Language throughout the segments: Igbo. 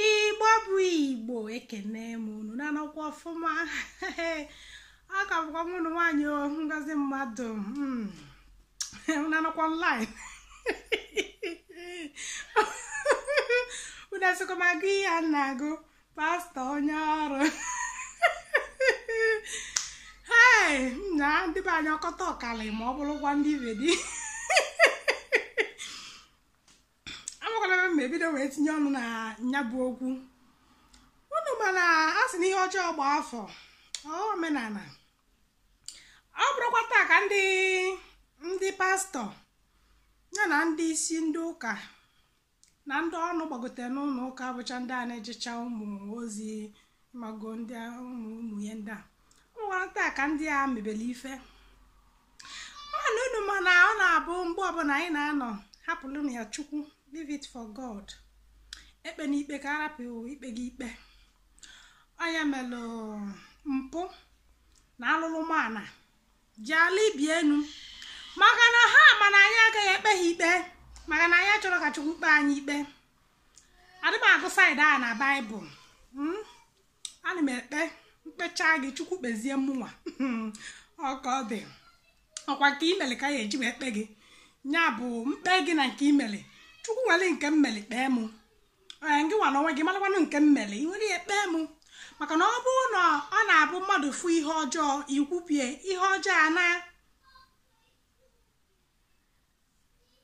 igbo bụ igbo ekene m unu na-anọkwa ọfụma ọ ka bụkwa m unu nwaanyị ngozi mmadụ unu na-anọkwa online unu asịkwa m agụ ihe a na-agụ pastor onye ọrụ ee na ndị be anyị ọkọta ọkali ma ọ bụrụkwa ndị be di amakwara m ma ebido wee tinye ọnụ na ya bụ okwu unu ma na a sị na ihe ọjọọ gba afọ ọ ghọọ omenala ọ bụrọkwa taa ka ndị ndị pastor ya na ndị isi ndị ụka na ndị ọnụ gbagotere n'ụlọ ụka bụcha ndị a na-ejecha ụmụ ozi mago ndị ụmụ ụmụ ihe ndị a ọ bụrọkwa taa ka ndị a mebere ife mana unu ma na ọ na-abụ mgbe ọbụla anyị na-anọ hapụrụ ya chukwu leave it for god ekpena ikpe ka a rapụ ikpe gị ikpe onye melu mpụ na alụlụ mana ji ala ibi enu maka na ha ma na anyị agaghị ekpe ha ikpe maka na anyị achọrọ ka chukwu kpee anyị ikpe adị m agụ side a na bible Mm? ana m ekpe m kpechaa gị chukwu kpezie mụnwa ọ ka ọ dị ọkwa nke i meli ka a ya-eji wee kpee gị ya bụ m kpee gị na nke i meli chukwu were nke m meli kpee mụ ee ngị nwa n'onwe gị marakwanụ nke m meli i were ya kpee mụ maka na ọ bụrụ na ọ na-abụ mmadụ fụ ihe ọjọọ ikwupie ihe ọjọọ a na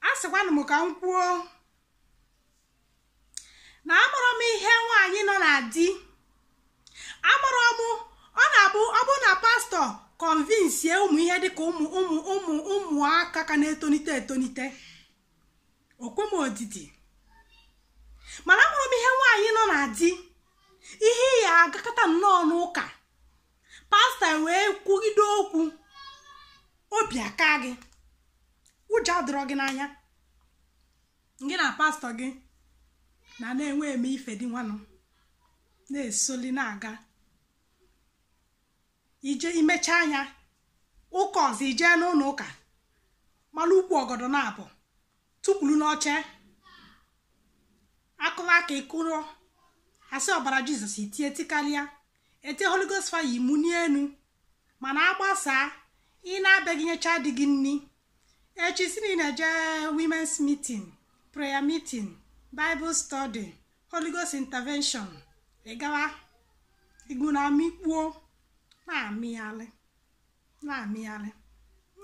asịkwanụ m ka m kwuo na amarọ m ihe nwaanyị nọ na di amarọ m ọ na-abụ ọ bụ na pastor kọnvinsie ụmụ ihe dịka ụmụ ụmụ ụmụ ụmụaka ka na-etonite etonite o kwe m odidi mana amarọ m ihe nwaanyị nọ na di ị ya-agakata nnọọ n'ụka pastor wee kwugide okwu obi akaa gị ụjọ adịrọ gị n'anya gị na pastor gị na na-enwe eme ife dị nwanụ na-esoli na-aga ije i mechaa anya ụka ọzọ i jee n'ụlọ ụka mara ukwu ọgọdọ naabọ tukwuru n'oche a kụla aka ị kụrụ a sị ọbara Jesus i tie tikarịa e tie Holy Ghost fire i muni enu mana agbasaa ị naa be gị nyechaa di gị nni echi sị na ị na-eje women's meeting prayer meeting bible study Holy Ghost intervention ị gawa igbu na amịkpuo na-amịghalị na-amịgharị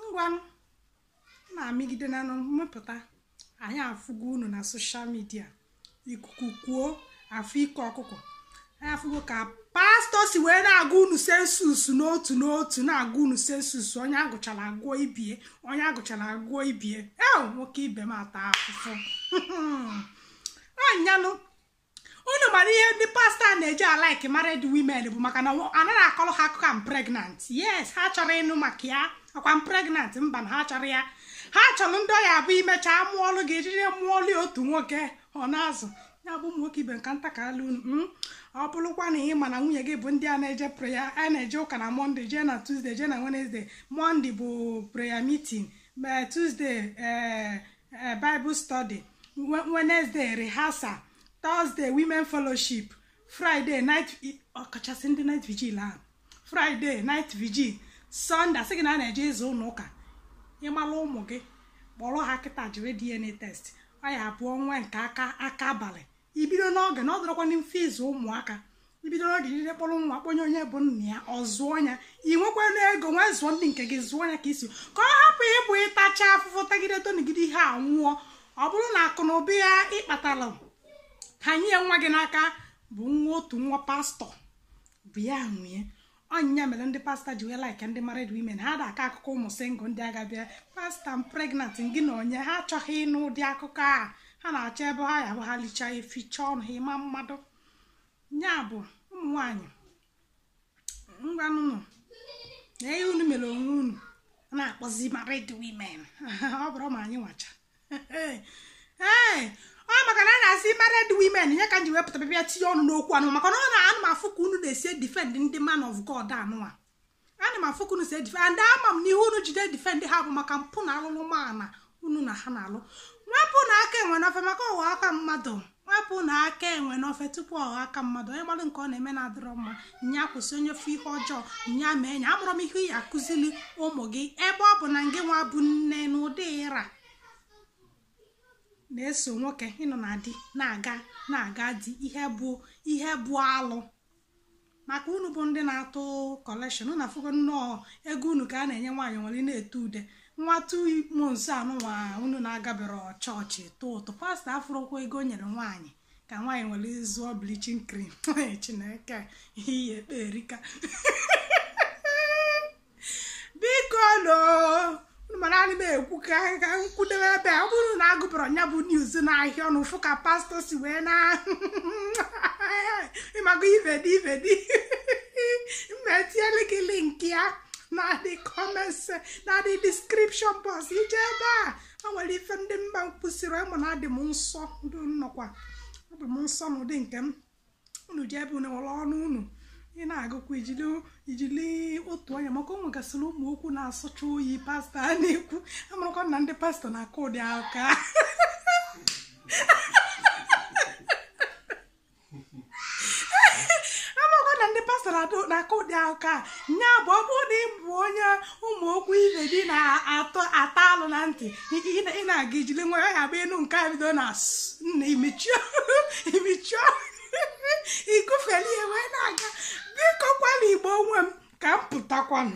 ngwanụ na-amịgide na mmepụta anyị afụgo unu na social media ikuku kuo afụ ike ọkụkọ anyị afụgo ka pastọ si wee na-agụ unu census n'otu n'otu na-agụ unu census onye agụchara agụọ ibie onye agụchara agụọ ibie e nwoke ibe m ata afụfụ anyanụ unu mara ihe ndị pastọ a na-eji alike married women bụ maka na anaghị akọrọ ha akụkọ i'm pregnant yes ha achọrọ ịnụ maka ya akwa m pregnant mba na ha achọrọ ya ha chọrọ ndị ọ ya-abụ e mechaa mụọlụ gị ejiri mụọlụ otu nwoke ọ na-azụ ya bụ ụmụ nwoke ibe nka nta ka alụ unu mm. ọ bụrụkwa na ị ma na nwunye gị bụ ndị a na-eje prayer a na-eje ụka na monday jee na tuesday jee na wednesday monday bụ prayer meeting ma tuesday ee eh, bible study wednesday rehearsal thursday women fellowship friday night ọkachasị ndị night vigil ahụ friday night vigil sunday a sị gị na a na-eje ịza ụlọ ụka ịmala ụmụ gị kpọrọ ha kịta jiri dna test ọ ya-abụ nwa nke aka aka abalị ibido n'oge na ọ dọrọkwa mfe ịzụ ụmụaka ibido n'oge jide kpọrọ nwa kpọnye onye bụ nna ya ọ zụọ ya ị nwekwanụ ego nwee zụọ ndị nke gị zụọ ya ka isi ka ọ hapụ ịbụ ịtacha afụfụ tagide tonigide ihe a nwụọ ọ bụrụ na akụ na ụba ya ị kpatara hanye nwa gị n'aka bụ nwa otu nwa pastọ bụ ya nwe nya ọ nya mere ndị pastọ ji wee like ndị married women ha da akọ akụkọ ụmụ single ndị ga-abịa pastọ i'm pregnant gị na onye ha achọghị ịnụ ụdị akụkọ a ha na-achọ ebe ha ya bụ ha lichaa e fichaa ọnụ ha ịma mmadụ ya bụ ụmụ nwanyị ngwanụnụ na ihe unu mere onwe unu a na-akpọzi married women ọ bụrụ ma anyị nwacha ee ọ maka na a na-asị married women nya ka m ji wee pụta bịa tinye ọnụ n'okwu anụ maka na ananụ m afụ ka unu na-esi defend ndị man of God anụwa ana m afụ ka unu si edefend ama m ihe unu ji edefend ha bụ maka mpụ na alụlụana unu na ha na-alụ wepụnụ aka enwe n'ofe maka ọ ghọọ aka mmadụ wepụnụ aka enwe n'ofe tupu ọ ghọọ aka mmadụ onye malụ nke ọ na-eme na-adịrọ mma nya kwụsị onye ofe ihe ọjọọ nye ama enyi amarọ m ihe ị ya-akụzili ụmụ gị ebe ọ bụ na ngị nwa bụ nne na ụdị ịra na-eso nwoke ịnọ na di na-aga na-aga di ihe bụ ihe bụ alụ maka unu bụ ndị na-atụ collection unu afụgo nnọọ ego unu ka a na-enye nwaanyị weli na-ete ude nwa tu mo nso anụnwa unu na-agabere chọọchị tụ ụtụ pastọ afụrụkwa ego o nyere nwaanyị ka nwaanyị were zụọ bleaching cream chineke ihe ekpe erika bikonu mana anyị na-ekwu ka ka m kwudebe ebe ọ bụrụ na agụpụrụ nya bụ news n'ahịa ọnụ fụ ka pastọ si wee na ịmago ive dị ive dị mma etinyere gị link ya na the comments na the description box i jee ebe a o nwere ife ndị mba kwusịrị ịmụ na adị m nsọ ndụ nnọkwa ọ bụ m nsọ n'ụdị nke m unu jee ebe unu were ọnụ unu ị na-agụkwa ijili ijili otu anya maka o nwegasịrị ụmụ okwu na-asọcha oyi pastọ a na-ekwu amarakwa na ndị pastọ na-akụ ụdị aka amakwa na ndị pastọ na-adụ- na-akụ ụdị aka nya bụ ọ bụrụ na ị bụ onye ụmụ okwu ibe gị na-ata alụ na ntị ị na-aga ijili nwayọ agba enu nke a bido na nna imechie imechie igufeli ihe wee na-aga bikokwanụ igbo nwe m ka m pụtakwanụ